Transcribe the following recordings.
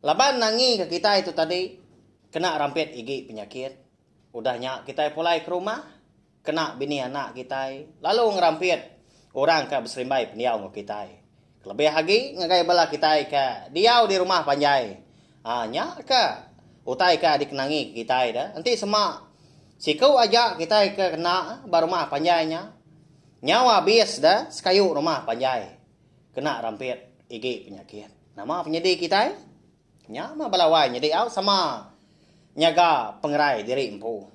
Laban nangi ke kitai tu tadi kena rampit igi penyakit, udah nya kitai pulai ke rumah, kena bini anak kitai lalu ngerampit orang ke beserimbai pendiau enggau kitai. Kelebih agi ngagai bala kitai ke diau di rumah panjai. Ha nya ke utai ke dikenangi ke kitai de, enti sema siku aja kitai ke kena ba rumah panjai nya, nyau abis de sekayu rumah panjai. Kena rampit igi penyakit. Nama penyedi kitai? Nya mah bala wai nyedi au sama nyaga pengerai diri empu.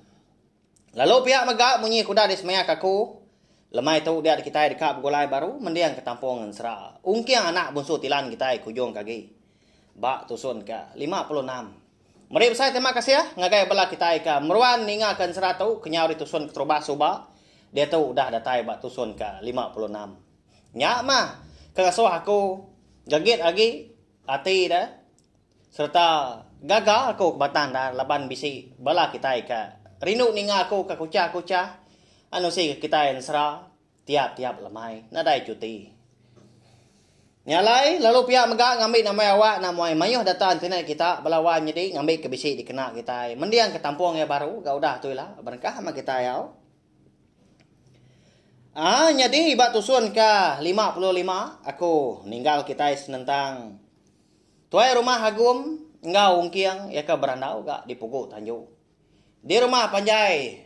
Lalu pia mega munyi kuda disemeak aku, lemai tu dia kitai deka begulai baru mending ke Tampong Ngensera, Ungking anak bunsu Tilan kitai ke ujung ke agi. Ba tusun ke lima puluh enam. Meri besai terima kasih ngagai bala kitai ke meruan ninga ke ensera tu kenyau di tusun Keterubas suba diatu udah datai ba tusun ke lima puluh enam. Nya mah ke ngasuh aku gagit agi ati da sereta gaga aku ke batang da laban bisi bala kitai ke rindu ninga aku ke kuchah-kuchah anu sigi kitai ensera tiap-tiap lemai nadai chuti. Nya alai lalu pia mega ngambi nama awak namuai mayuh data internet kita bala wan nyadi ngambi ke bisi dikena kitai mending ke tampung iya baru ga udah tu ila berengkah mah kitai au. Ah nyadi ba tusun ke lima puluh lima aku ninggal kitai senentang tuai rumah Agum enggau Ungking iya ke berandau ga di Pugu Tanjung. Di rumah panjai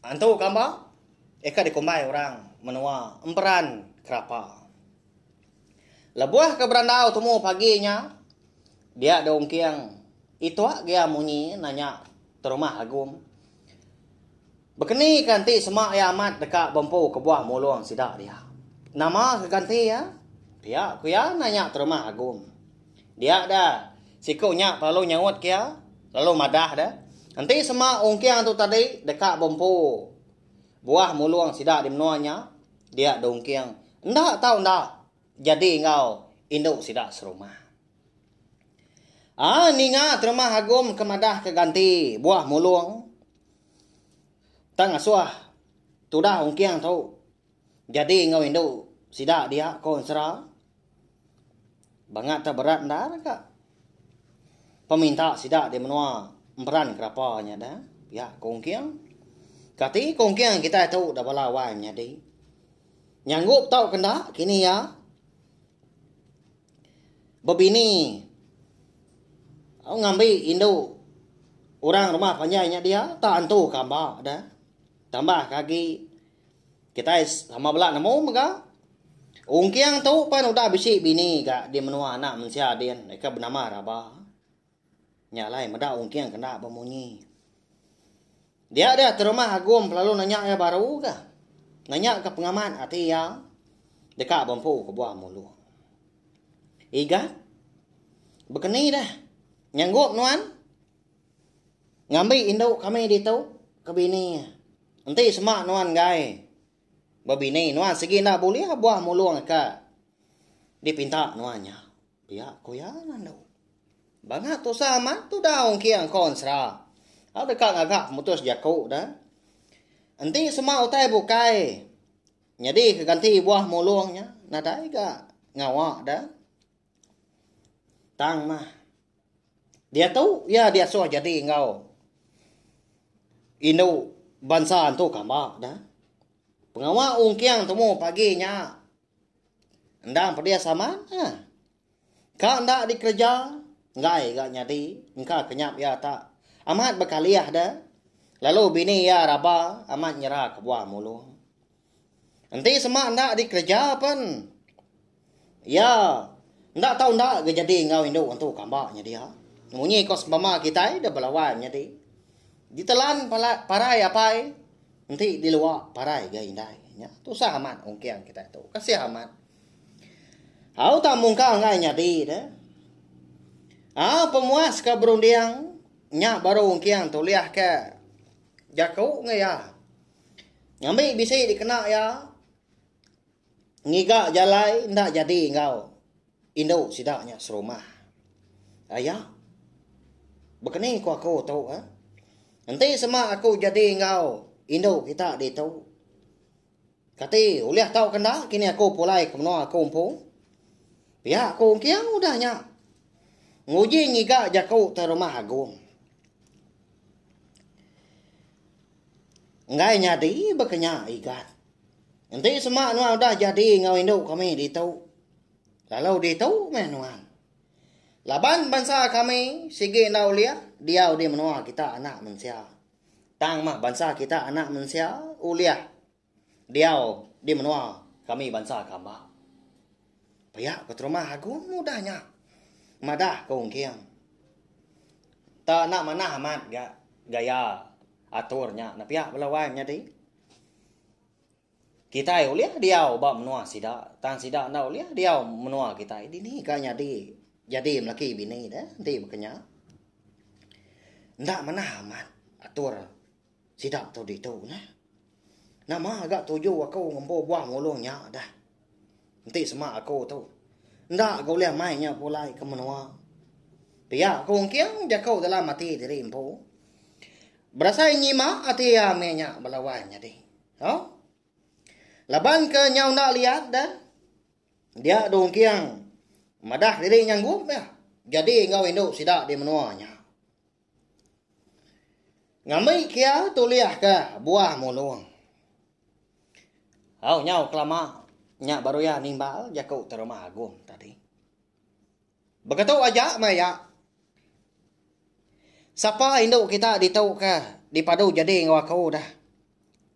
antu kamba iya ke dikumbai orang menua Emperan Kerapa. Lebuh ke berandau tumu pagi nya, dia dua ungking itok gia munyi nanya terumah Agum, Bekeni ke enti sema iya amat deka bempu kebuah mulung sida dia? Nama ke ganti iya? Pia ku iya nanya terumah Agum. Dia da siku nya pelalu nyaut ke iya lalu madah da, Enti sema ungking tu tadi deka bempu buah mulung sida di menua nya, Dia Dongking enda tau enda jadi enggau indu sida serumah. Ah ninga terumah Agum ke madah ke ganti buah mulung. Tang asuh tudah Ongking tu jadi enggau indu sida dia ko ensera. Banga tau berat endar ka peminta sida di menua emperan kerapa nya da pia ko Ongking. Kati ko Ongking kitai tu da bala wai menyadi. Nyanggup tau ke enda kini iya bebini au ngambi indu orang rumah panjai nya dia tak entu ka ba da. Tambahka agi Kitai sama bela nemu mega Ong Kiang tu pen udah bisi bini ga di menua anak mensia din ke benama Raba. Nya alai meda Ong Kiang kena bemunyi. Dia dia terumah Agum lalu nanya iya baru ga. Nanya ke pengamat ati iya deka bempu ke buah mulung. Igat, bekeni dah. Nyanggup nuan? Ngambi indu kami ditu ke bini. Enti sema nuan enggai bebini nuan sigi enda bulih buah mulung ka dipinta nuan nya. Pia ku iya ngandu. Banga tusah amat tudau engking engkau ensera. Au deka ngaga pemutus jaku da. Enti sema utai bukai nyadi ke ganti buah mulung nya nadai ga ngawa da. Tang mah. Diatu iya diasuh jadi enggau indu bansa tu kamba da. Pengawa ungking tumu pagi nya endang pedis amat eh. Ka enda dikereja enggai ga nyadi engka kenyap iya ta. Amat bekalih da lalu bini iya raba amat nyera kebuah mulung. Enti sema enda dikereja pen iya enda tau enda ga jadi enggau indu antu kamba nya dia. Munyi ko sebama kitai da belawai menyadi ditelan parai apai enti dilua parai ga indai. Nya tusah amat ungking kitai tu. Kasih amat. Au tang mungkal ngai nyadi de. Ah pemuas ke berunding nya baru ungking tulih ke jaku ngai iya. Ngambi bisi dikena iya ngiga jalai enda jadi enggau indu sida nya serumah. Aya bekeni ku aku tu eh. Enti sema aku jadi enggau indu kita ditu. Kati ulih tau ke enda kini aku pulai ke menua aku empu. Pia aku engking udah nya. Nguji ngiga jaku te rumah agung. Enggai nyadi baka nya Igan. Enti sema nuan udah jadi enggau indu kami ditu, lalu ditu meh nuan. Laban bansa kami sigi enda ulih diau di menua kita anak mensia. Tang mah bansa kita anak mensia ulih. diau di menua kami bansa Kamba. Pia ku terumah agung udah nya. Madah ku Ungking. Ta enda manah amat ga gaya atur nya nepia bala wai menyadi. Kitai ulih diau ba menua sida tang sida enda ulih diau menua kitai. Dini ga nyadi jadi lelaki bini deh enti baka nya. Enda manah amat atur. Sida tu ditu nah. Nama ga tuju aku ngempu buah ngulung nya dah. Enti sema aku tu. Enda ga ulih mai nya pulai ke menua. Pia aku engking jaku dalam ati diri empu. Berasai nyima ati ami nya bala wai nyadi. Ha? Laban ke nyau enda liat dah. Dia du engking madah diri nyanggup ya. Jadi enggau indu sida di menua nya. Ngambi kia tulih ka buah mulung. Au nyau kelama nya baru iya nimbal jaku tu rumah agung tadi. Begitu aja meh iya. Sapa indu kita ditu ke dipadu jadi enggau aku dah.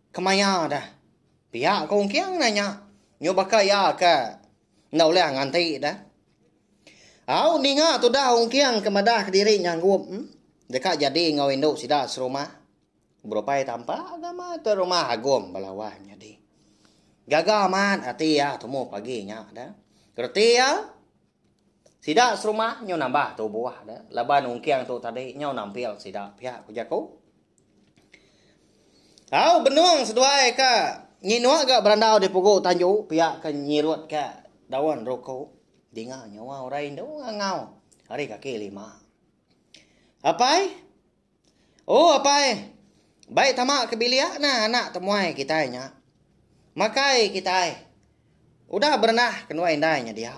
Kemaya dah. Pia ku Ong Kiang nanya. Nyubaka iya ke. Enda ulih nganti dah. Au ninga tudah ungking ke madah kediri nyanggup hmm? deka jadi enggau indu sida serumah. Berupai tampa agama ke rumah agum belawa nyadi. Gaga amat ati iya temu pagi nya dah. Reti iya sida serumah nyu nambah tubuh dah laban ungking tu tadi nyu nampil sida pia ku jaku. Au benung seduai ka nginuk ga berandau di pugu tanju pia ke nyirut ka daun ruku dinga nyawa orang indu ngangau ari kaki lima. Apai oh apai bai tama ke bilik na anak temuai kitai nya makai kitai. Udah berenah ke nuai indai nya dia,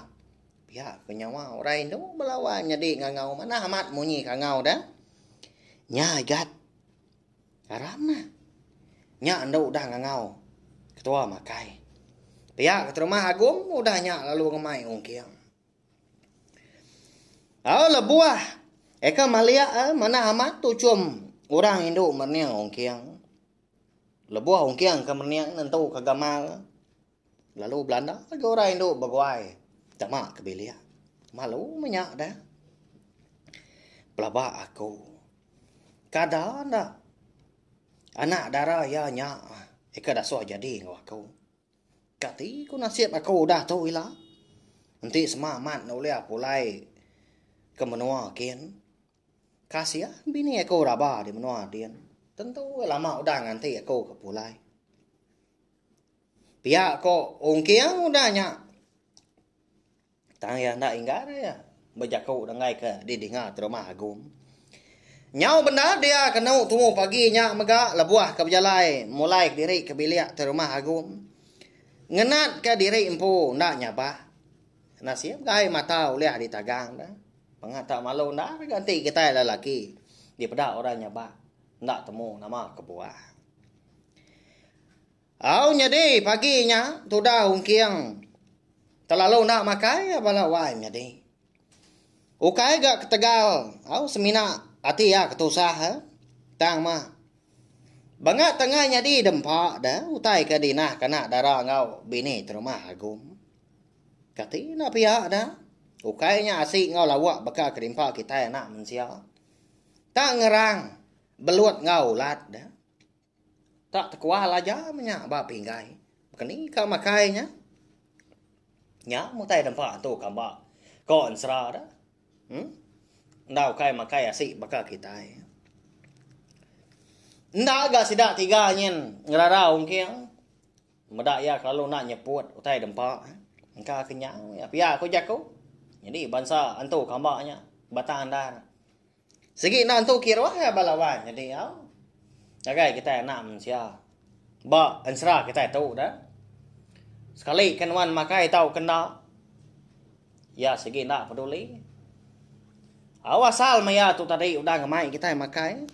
pia ke nyawa orang indu belawan nyadi ngangau manah amat munyi ke angau deh. Nya igat aram neh. Nya endu udah ngangau ketua makai. Pia ke terumah Agum udah nya lalu ngemai ungking. Au lebuh eka malik eh manah amat tuchum orang indu merning ungking. Lebuh ungking ke mening nentuka gamal ne, lalu belanda lagi orang indu beguai tama ke bilik. Malu meh nya deh. Pelaba aku, kada enda anak dara iya nya ika dasuh jadi enggau aku. Kati ku nasib aku udah tu ila? Enti sema amat ulih pulai ke menua kin. Kasih bini aku raba di menua din. Tentu ke lama udah nganti aku ke pulai. Pia ko ungking udah nya. Tang iya enda inggar iya bejaku denggai ke didinga terumah Agum. Nyau bendar dia kenu tumu pagi nya mega lebuh ke bejalai mulai diri ke bilik ti rumah Agum. Ngenat ke diri empu enda nyabak. Nasib gai mata ulih ditagang dah. Pengatak malu enda ada ganti kitai lelaki dipeda orang nyabak enda temu nama kebuah. Au nyadi pagi nya tudah ungking telalu enda makai iya bala wai nyadi. Ukai ga ketegal au semina ati iya ketusah eh tang mah banga tengah nyadi dempa deh utai ke dinah kana dara enggau bini terumah Agum. Kati enda pia da? Ukai nya asi enggau lawak baka kedimpa kitai anak mensia. Tak ngerang belut enggau ulat da. Tak tekual aja menya ba pinggai. Keni ka makai nya? Nya mutai dempa tu kamba ko ensera da. Hmm? Enda ukai makai asi baka kitai. Enda ga sida tiga nyin ngerara ungking. Meda iya kelalu enda nyeput utai dempa engka kenyau iya pia ku jaku. Nyadi bansa antu kamba nya Batang Andar. Sigi enda antu kiruh iya bala wan nyadi au. Ngagai kitai anak mensia ba ensera kitai tu dah. Sekali ke nuan makai tau ke enda iya sigi enda peduli. Au asal maya tu tadi udah ngemai kitai makai.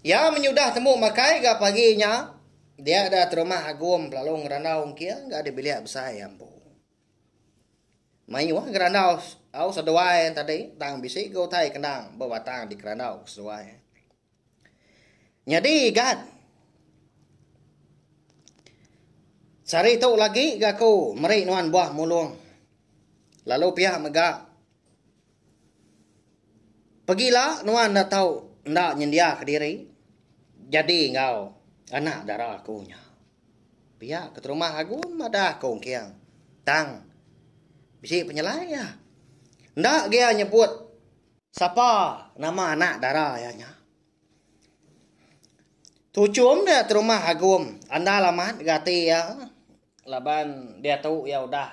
Iya menyudah tembu makai ga pagi nya dia da terumah Agum lalu ngerandau engking ga di bilik besai iya empu. Mayuh ngerandau au seduai tadi tang bisi ga utai kendang ba batang dikerandau ku seduai. Nyadi igat sehari tu lagi ga aku meri nuan buah mulung lalu pia mega Pegila nuan enda tau enda nyendia kediri jadi enggau anak dara aku nya. Pia keterumah Agun madah aku engking tang bisi penyelai iya. Enda agi iya nyebut sapa nama anak dara iya nya. Tuchum dia terumah Agum andal amat gati iya laban diatu iya udah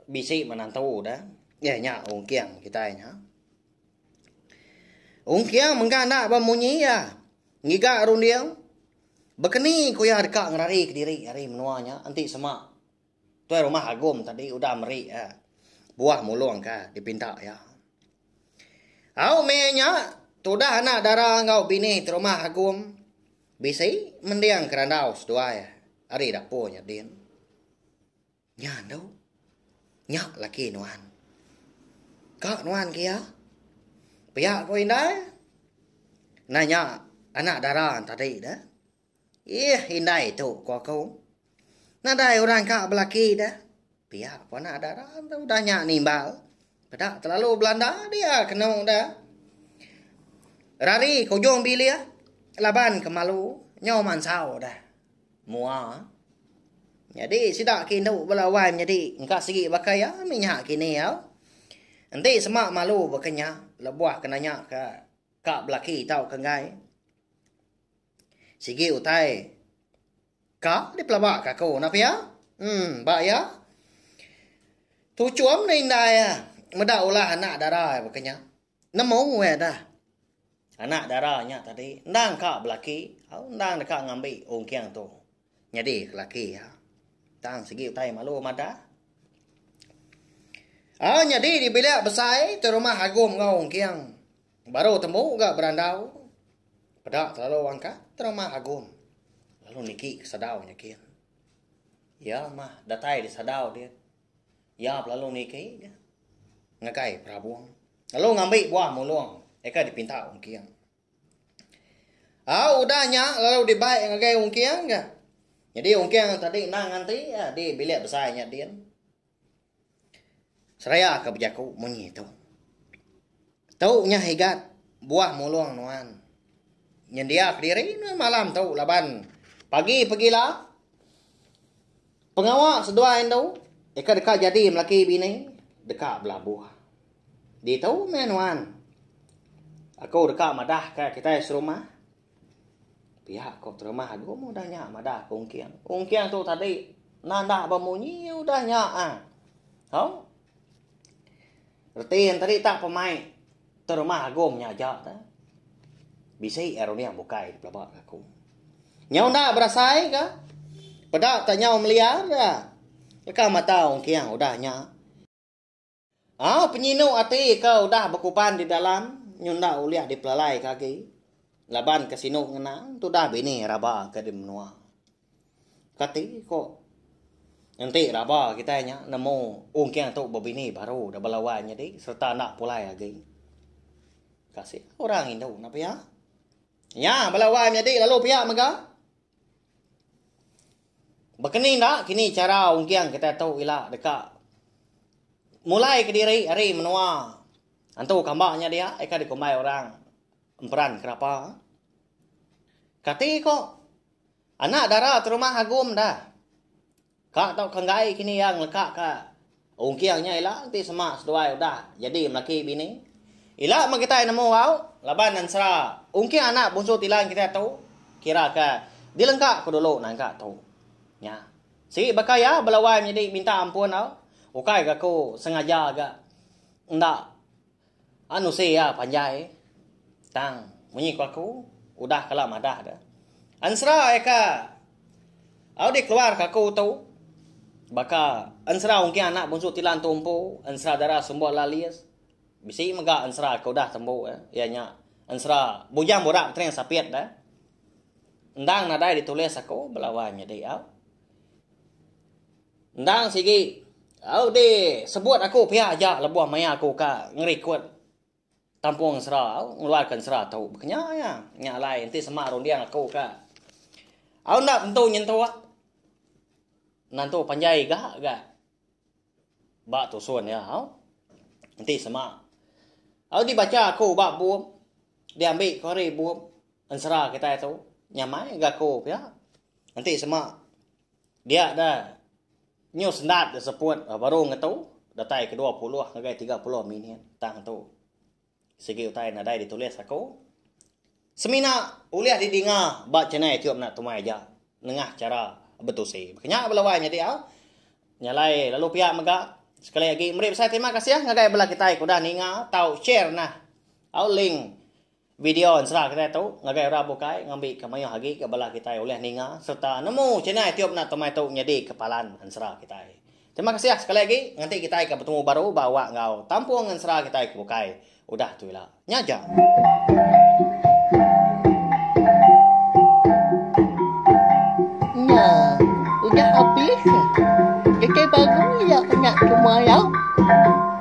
Bisi menantu da. Iya nya Ong Kiang kitai nya. Ong Kiang mega enda ba munyi iya. Ngiga runding. Bekeni ku iya deka ngerari kediri ari menua nya enti sema tuai rumah Agum tadi udah meri iya buah mulung ke dipinta iya. Au meh nya tudah anak dara enggau bini ti rumah Agum bisi mending ke randau seduai ari dapur nya din. Nya endo. Nya laki nuan. Ka nuan ke iya. Pia ko indai. Nah nya anak dara tadi da. Ih indai tu ko aku. Nadai orang ka belaki da. Pia ko anak dara tu udah nya nimbal. Peda telalu belanda dia kenu da. Rari ke ujung bilik laban ke malu nyau mansau da. Mua. Nyadi sida ke indu bala wai menyadi engka sigi baka iya mih nya kini au. Enti sema malu baka nya lebuh ke nanya ka ka belaki tau ka enggai. Sigi utai ka dipelaba ka aku nah pia. Emm ba iya. Tuchum ne indai iya meda ulah anak dara iya baka nya. Nemu weh dah anak dara nya tadi endang ka belaki au endang deka ngambi ungking tu nyadi laki iya. Tang sigi utai malu madah. Au nyadi di bilik besai ti rumah Agum enggau Ungking. Baru tembu ga berandau. Peda telalu angkat ti rumah Agum. Lalu niki ke sadau nya kin. Ya mah datai di sadau dia. Iya belalu niki ga ngagai perabung lalu ngambi buah mulung eka dipinta ungking. Au udah nya lalu dibai ngagai ungking ga. Nyadi ungking tadi endang nganti eh, di bilik besai nya din. Seraya ke bejaku munyi tu. Tu nya higat buah mulung nuan. Nyendia kediri nuan malam tu laban pagi pegila Pengawa seduai endu ika deka jadi melaki bini deka belabuh. Ditu meh nuan. Aku deka madah ka kitai serumah. Pia ko terumah agu meh udah nya madah ko ungking. Ungking tu tadi nandah ba munyi udah nya ah. Hau. Reti yen tadi tak pemai. Terma Agong nya aja tah. Bisi Aronia bukai di pelaba ke aku. Nyau enda berasai ke? Peda tah nyau meliar da. Leka mata ungking udah nya. Au penyinu ati ke udah bekuban di dalam nyu enda ulih dipelalaika agi. Laban ke sinu ngena tudah bini raba ke di menua. Kati ko enti raba kitai nya nemu ungking tu bebini baru da bala wai nyadi sereta enda pulai agi. Kasih orang indu enda pia. Nya bala wai menyadi lalu pia mega. Bekeni enda kini chara ungking kitai tu ila deka mulai kediri ari menua antu kamba nya dia ika dikumbai orang emperan kerapa. Kati ko Anak dara ti rumah Agum da. Ka tauka enggai kini iya ngeleka ka ungking nya ila enti sema seduai udah jadi melaki bini. Ila meh kitai nemu au laban ensera ungking anak bunsu tilan kitai tu kira ka dilengka ku dulu nangka tu. Nya. Sigi baka iya bela wai menyadi minta ampun au ukai ga ku sengaja ga enda Anu seh iya panjai tang munyi ku aku udah kala madah deh. Ensera ai ka au dikeluar ka aku tu baka ensera ungking anak bunsu Tilan Tumpu, ensera dara Sumbo Lalis. Bisi mega ensera ke udah tembu eh iya nya ensera Bujang Burak Petening Sapit deh. Endang nadai ditulis aku bala wang nyadi au. Endang sigi. Au di sebut aku pia aja lebuh maya aku ka ngerikut tampung sera au ngeluarkan sera tu ba kenya iya. Nya alai enti sema runding aku ka au enda tentu nyentuk nentu panjai ga ga ba tusun iya au. Enti sema au di bacha aku ba bum di ambi ku ari bum ensera kitai tu nyamai ga aku pia. Enti sema. Dia da nyu sendat da seput baru ngetu datai ke dua puluh ngagai tiga puluh minit tang tu. Sigi utai nadai ditulis aku. Semina ulih didinga ba channel Iku Mena Tumai aja nengah chara betusi. Baka nya bala wai nyadi au. Nyalai lalu pia mega. Sekali agi meri besai terima kasih ngagai bala kitai ke udah ninga tau share nah au link Video ensera kitai tu ngagai orang bukai ngambika mayuh agi ke bala kitai ulih ninga sereta nemu channel iTube enda tu meh tu nyadika palan ensera kitai. Terima kasih sekali agi nganti kitai ke betemu baru ba awak enggau tampung ensera kitai ke bukai udah tu ila. Nya aja.